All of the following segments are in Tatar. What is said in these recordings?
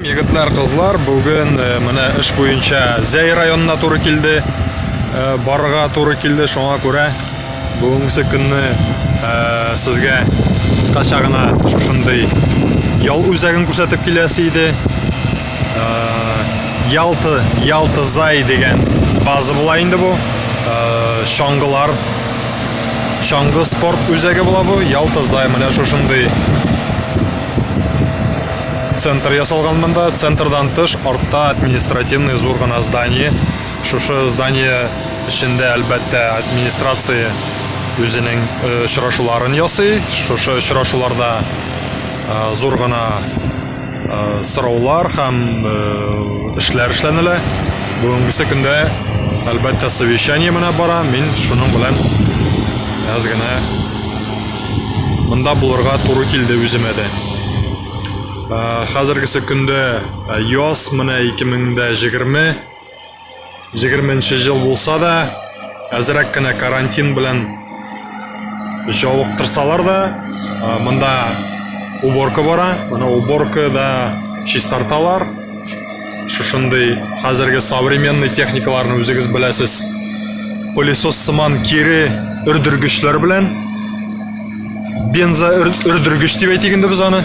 Егетләр, кызлар, бүген э, менә эш буенча Зәй районына туры килде, э, барырга туры килде, шуңа күрә бүгенге көнне э, сезгә кыскача гына шушындый ял үзәген күрсәтеп киләсе иде. Ялты, Ялты Зай дигән база була инде бу. Чаңгылар чаңгы спорт үзәге була бу. Ялты Зай менә шушындый Центр ясалган монда, центрдан тыш артта административный зур гына здание. Шушы здание эчендә әлбәттә администрация үзенең э, очрашуларын ясый. Шушы очрашуларда э, зур гына э, сораулар һәм эшләр эшләнелә. Бүгенгесе көндә әлбәттә совещание менә бара. Мин шуның белән әз генә Монда булырга туры килде үземә дә. Ә, хәзергесе көндә ә, яз менә 2020 20 ел булса да, әзрәк кенә карантин белән җавыктырсалар да, ә, монда уборка бара, менә уборка да чистарталар. Шушындый хәзерге современный техникаларны үзегез беләсез. Пылесос сыман кире өрдергечләр белән бенза өрдергеч дип әйтик инде без аны.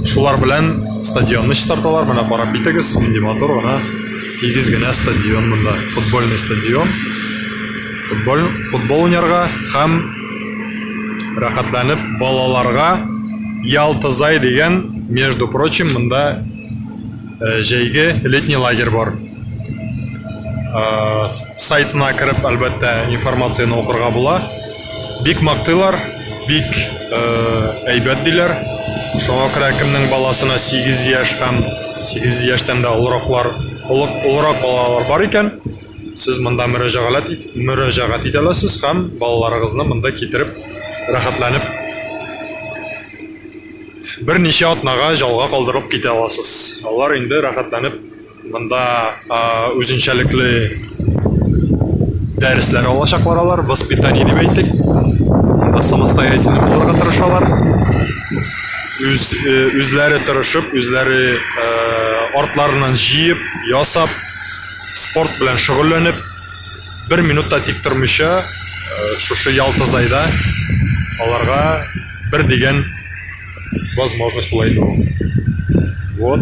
Шулар белән стадионны чистарталар. Менә карап китегез, нинди матур гына тигез генә стадион монда. Футбольный стадион. Футбол футбол уйнарга һәм рәхәтләнеп балаларга Ялтызай дигән, между прочим, монда Э, җәйге летний лагерь бар э, сайтына кереп әлбәттә информацияны укырга була бик мактыйлар бик э, әйбәт диләр шуңа күрә кемнең баласына 8 яшь һәм 8 яшьтән дә олыраклар олырак балалар бар икән сез монда мөрәҗәгать ит, мөрәҗәгать итә аласыз һәм балаларыгызны монда китереп рәхәтләнеп Берничә атнага җалга калдырылып китә аласыз. Алар инде рәхәтләнеп монда үзенчәлекле дәресләр алачаклар алар, воспитание дип әйтик. Монда самостоятельно булырга тырышалар. Үз, үзләре тырышып, үзләре артларыннан җыеп, ясап, спорт белән шөгыльләнеп, Бер минут та тик тормыйча, шушы Ялта Зайда аларга бер дигән возможность була инде ул. Вот.